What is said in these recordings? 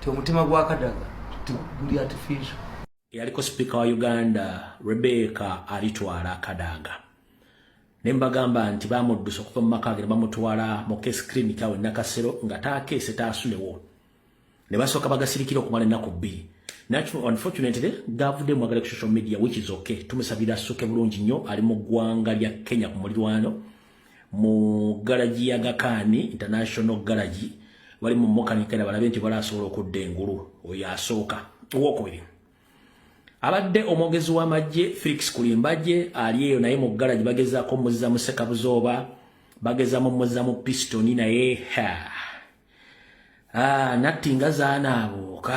ti omutima gwa kadaga guli artificial eyaliko sipiika wa uganda rebeka alitwala kadaga naye mbagamba nti bamuddusa okuva mu maka ge ne bamutwala mu case clinic awo enakasero nga taakeese taasulewo ne basooka bagasirikira okumala ennaku bbiri unfortunately gavude mwagala ku social media which is okay tumusabira asuke bulungi nnyo ali mu ggwanga lya kenya ku mulirwano mu galagi ya gakaani international galagi bali mu mukanikera balabe nti balasobola okudda engulu oyo asooka owokubiri abadde omwogezi w'amagye felix kulimbagye ali eyo naye mu galagi bagezaako muzza mu sekabuzooba bageza mu muzza mu pistoni naye ha ah, natti nga zaana abooka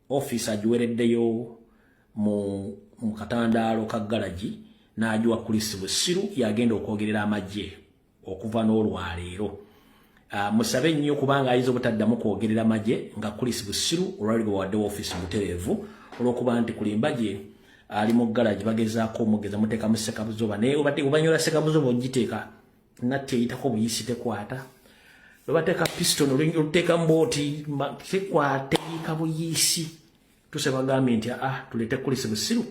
ofiisi agiwereddeyo mu mu katandaalo ka galagi n'agiwa kulisi busiru yagenda okwogerera amagye okuva n'olwaleero ah, musabe nnyo kubanga ayinza obutaddamu kwogerera magye nga kulisi busiru olwali lwe waddewo ofiisi mutereevu olwokuba nti kulimba gye ali mu galagi bagezaako omugeza muteeka mu sekabuzoba naye obadde obanyola sekabuzoba ogiteeka natti eyitako buyisi tekwata lwebateeka piston oluyinja oluteeka mbooti tekwata eyiika buyisi tuse bagambye nti aa ah, tuleete kulisi busiru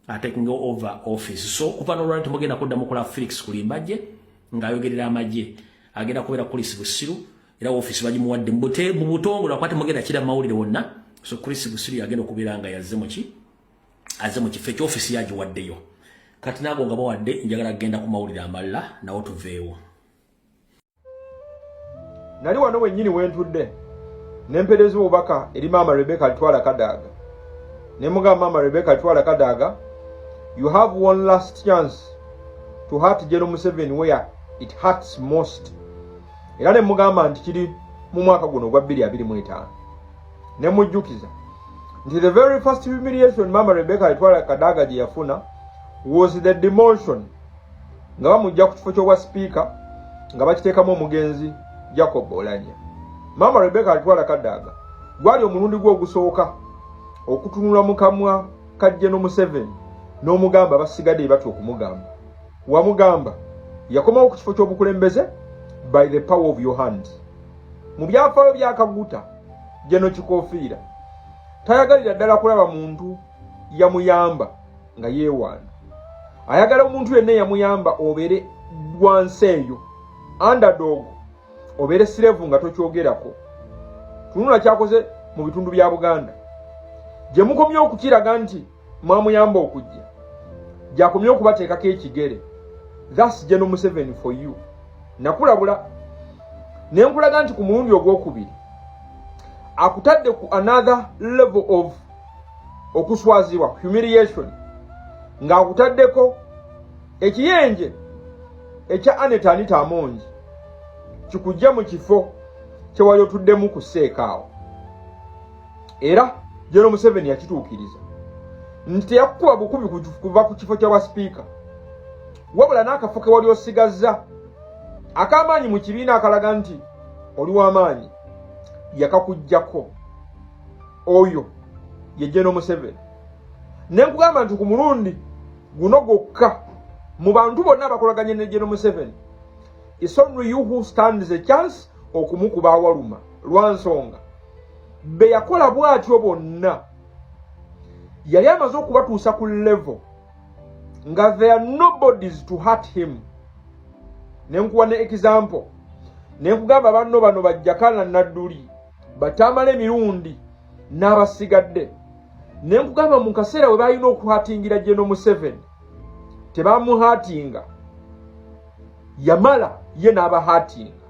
atekinga over office so okuva nolwali temugenda kudda mukola felix kulimbajje ng'ayogerera amagye agenda kubeera kulisi busiru era office bagimuwadde mu butongole akuba temugenda kira mawulire wonna so kulisi busiru yagenda okubeera nga yazze muki aze mu kifo ekyofisi yagiwaddeyo kati naago nga bawadde njagala kugenda ku mawulire amalala nawo tuveewo nali wano wennyini wentudde nempereeza obubaka eri maama rebeka litwala kadaaga ne mugamba maama rebeka litwala kadaaga you have one last chance to heart general museven where it hurts most era ne mugamba nti kiri mu mwaka guno ogwa 225 ne mujjukiza nti the very first humiliation mama rebecca yetwala kadaga gye yafuna was the demotion nga bamujja ku kifo ky'obwa sipiika nga bakiteekamu omugenzi jacob olanya mama rebecca alitwala kadaga gwali omulundi gwe ogusooka okutunula mu kamwa kajje no museveni n'omugamba basigadde ebatya okumugamba wamugamba yakomawo ku kifo ky'obukulembeze by the power of your hand mu byafaayo byakaguta jeno kikofiira tayagalira ddala kulaba muntu yamuyamba nga yeewaana ayagala omuntu yenna yamuyamba obeere wansi eyo underdog obeere sirevu nga tokyogerako tunula kyakoze mu bitundu bya buganda gye mukomye okukiraga nti mwamuyamba okujja gyakomye okubateekako ekigere thats geno museveni for you nakulabula ne nkulaga nti ku mulundi ogwokubiri akutadde ku another level of okuswazibwa humiliation ng'akutaddeko ekiyenje ekya aneta anita amongi kikujja mu kifo kyewali otuddemu ku seekaawo era General Museveni yakituukiriza nti teyakukuba bukubi kuva ku kifo kya bwasipiika wabula n'akafo ke wali osigazza ak'amaanyi mu kibiina akalaga nti oli w'amaanyi yakakuggyako oyo ye General Museveni ne nkugamba nti ku mulundi guno gwokka mu bantu bonna abakolaganye ne General Museveni it's only you who stands a chance okumukuba awaluma lwa nsonga be yakola bw'atyo bonna yali amaze okubatuusa ku levo nga there are nobodies to hurt him ne nkuwa ne example ne nkugamba banno bano bajjakana nadduli batamala emirundi n'abasigadde ne nkugamba mu kaseera we balina okuhatingira geno museveni tebamuhatinga yamala ye n'abahatinga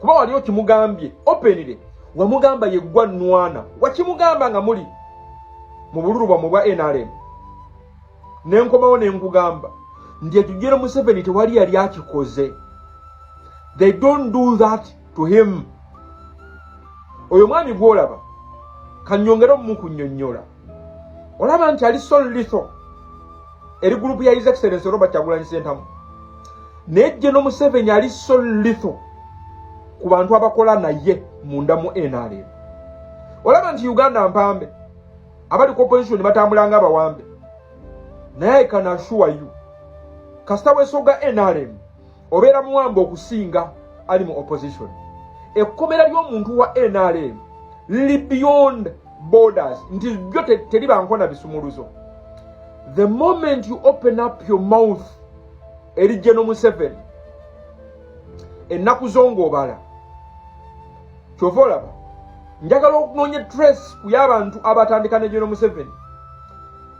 kuba wali okimugambye openire wamugamba yeggwa nwana wakimugamba nga muli mu bululu bwamwe bwa nrm ne nkomawo ne nkugamba nti ekijero museveni tewali yali akikoze they don't do that to him oyo mwami gwolaba kanyongere omumu kunyonyola olaba nti ali so litho eri gulupu ya his excellence robert kyagulanyi sentamu naye jje no museveni ali so litho ku bantu abakola naye munda mu nrm olaba nti uganda mpambe abali ku opposition batambula nga abawambe naye kanashuwa yu kasita wesoga nrm obeera muwamba okusinga ali mu opposition ekkomera ly'omuntu wa nrm lili beyond borders nti byo teri bankona bisumuluzo the moment you open up your mouth eri geno museven ennaku zo ng'obala kyova olaba njagala okunoonya trace ku y'abantu abatandika ne geno museveni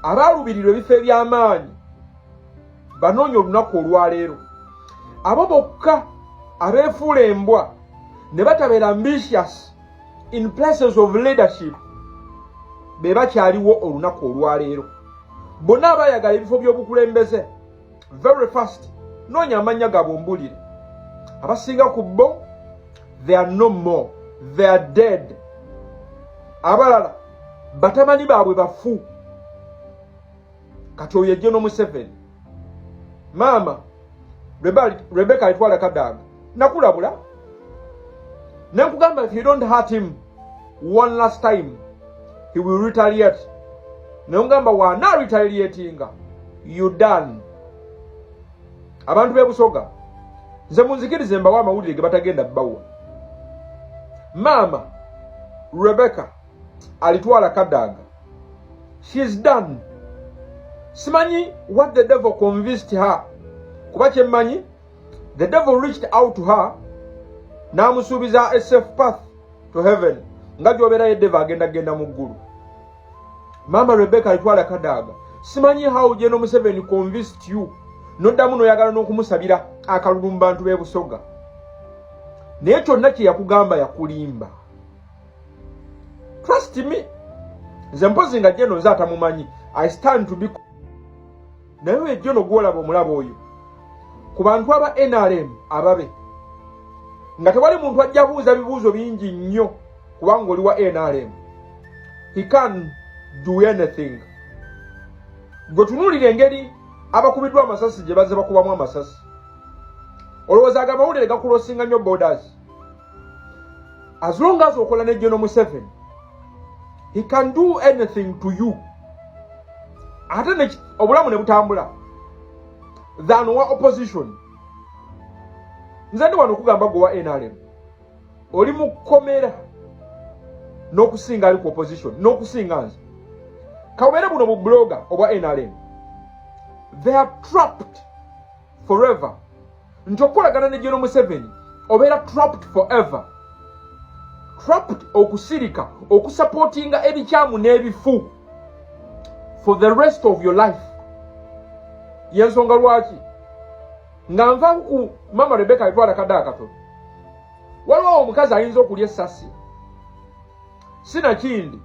abaalubirirwa ebifo eby'amaanyi banoonya olunaku olwaleero abo bokka abeefuula embwa ne batabeera ambitious in places of leadership be bakyaliwo olunaku olwaleero bonna abayagala ebifo by'obukulembeze very fast noonya amannya gaabwe ombulire abasinga ku bo they are no more they are dead abalala batamani baabwe bafu kati oyo ejje nomuseveni maama rebeka alitwala kadaaga nakulabula nenkugamba if you don't hurt him one last time he will retaliate nengamba wana retaliatinga you done abantu bebusoga nze munzikirize mbawo amawulire gebatagenda bawa maama rebeka alitwala kadaga she's done simanyi what the devil convinced her kuba kyemmanyi the devil reached out to her n'amusuubiza a safe path to heaven nga gyobeera ye devil agenda genda mu ggulu maama rebecca alitwala kadaaga simanyi how geno museveni convinced you noddamu noyagala n'okumusabira akalulu mu bantu b'ebusoga naye kyonna kye yakugamba yakulimba trust me nze mpozi nga jeno nze atamumanyi i stand to be naye wejeno gwolaba omulaba oyo ku bantu aba nrm ababe nga tewali muntu ajja buuza bibuuzo bingi nnyo kubanga oli wa nrm he can do anything gwe tunuulira engeri abakubiddwa amasasi gye bazze bakubamu amasasi olowooza ago amawulire gakulosinga nnyo borders as long as okola ne General Museveni he can do anything to you ate ne obulamu ne butambula than wa opposition nze ndi wano okugamba gwe wa NRM oli mu kkomera n'okusinga ali ku opposition n'okusinga nze kabeere buno bu blogger obwa NRM they are trapped forever nti okukolagana ne jono museveni obeera trapped forever trapped okusirika okusapootinga ebikyamu n'ebifu for the rest of your life yensonga lwaki nga nvaku ku mama rebeka etwala kadde akatono waliwo omukazi ayinza okulya essasi sinakindi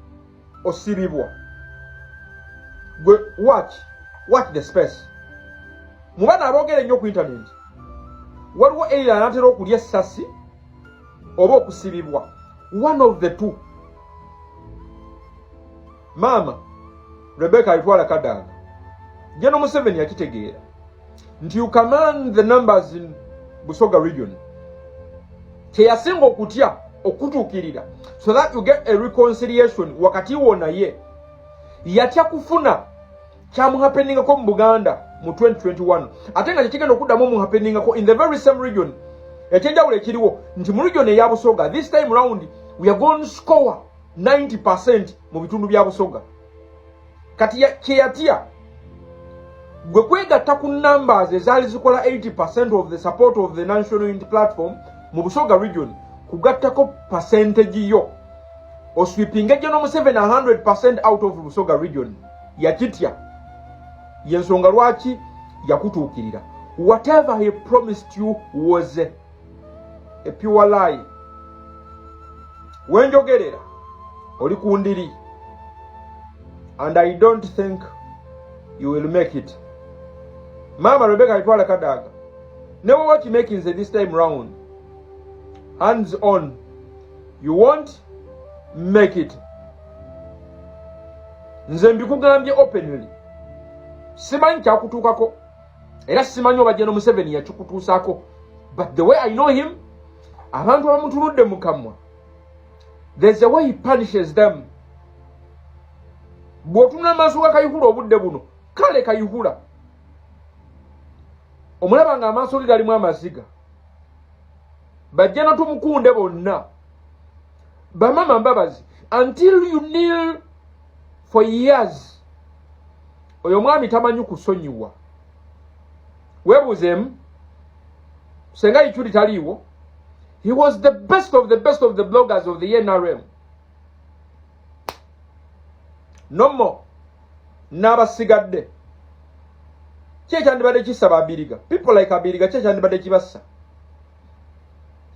osibibwa gwe watch watch the space mu bana aboogera ennyo ku intanenti waliwo eira anatera okulya essasi oba okusibibwa one of the two maama rebeka alitwala kadaga jeno museveni yakitegeera nti you command the numbers in busoga region kyeyasinga okutya okutuukirira so that you get a reconciliation wakati wo naye yatya kufuna kyamuhapeningako mu buganda mu 2021 ate nga kyekigenda okuddamu omuhapeningako in the very same region ekyenjawulo ekiriwo nti mu region eya busoga this time round we are going score 90 percent mu bitundu bya busoga kati kyeyatya gwe kwegatta ku numbers ezaali zikola 80 percent of the support of the national unity platform mu busoga region kugattako percentage yo oswipinga ejja nomuseveni 100 percent out of busoga region yakitya yensonga lwaki yakutuukirira whatever he promised you was epiwa layi wenjogerera oli ku ndiri and i don't think you will make it maama rebeka alitwala kadaaga newe wakimakinze this time round hands on you won't make it nze mbikugambye openly simanyi kyakutuukako era simanyi oba jeno museveni yakikutuusako but the way i know him abantu abamutunudde mu kamwa there's a way he punishes them bw'otunula amaaso ga kayihura obudde buno kale kayihura omulaba nga amaaso ge galimu amaziga bajja natumukunde bonna bamama mbabazi until you kneel for years oyo omwami tamanyi kusonyiwa webuuzeemu senga ichuli taliiwo he was the best of the best of the bloggers of the nrm nomo n'abasigadde kyekyandibadde kisa babiriga people like abiriga kyekyandibadde kibassa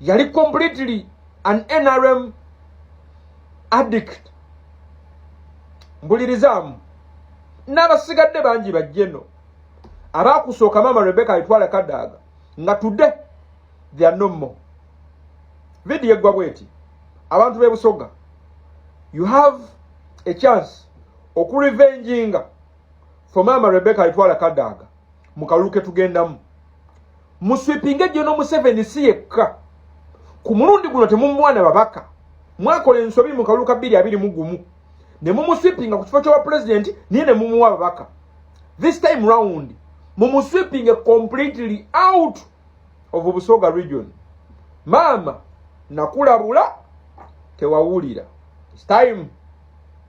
yali completely an nrm addict mbulirizaamu n'abasigadde bangi bajjeno abaakusooka maama rebeka alitwala kadaaga nga tudde theyare no more vidiyo eggwa bweti abantu b'ebusoga you have a chance okurevenginga for maama rebeka alitwala kadaaga mu kalulu ke tugendamu muswipinga ejjo no museveni si yekka ku mulundi guno temumwana babaka mwakola ensobi mu kalulu ka bbiri abiri mu gumu ne mumuswipinga ku kifo ky'obwa pulezidenti naye ne mumuwa ababaka this time round mumuswipinge completely out of busoga region maama nakulabula tewawulira time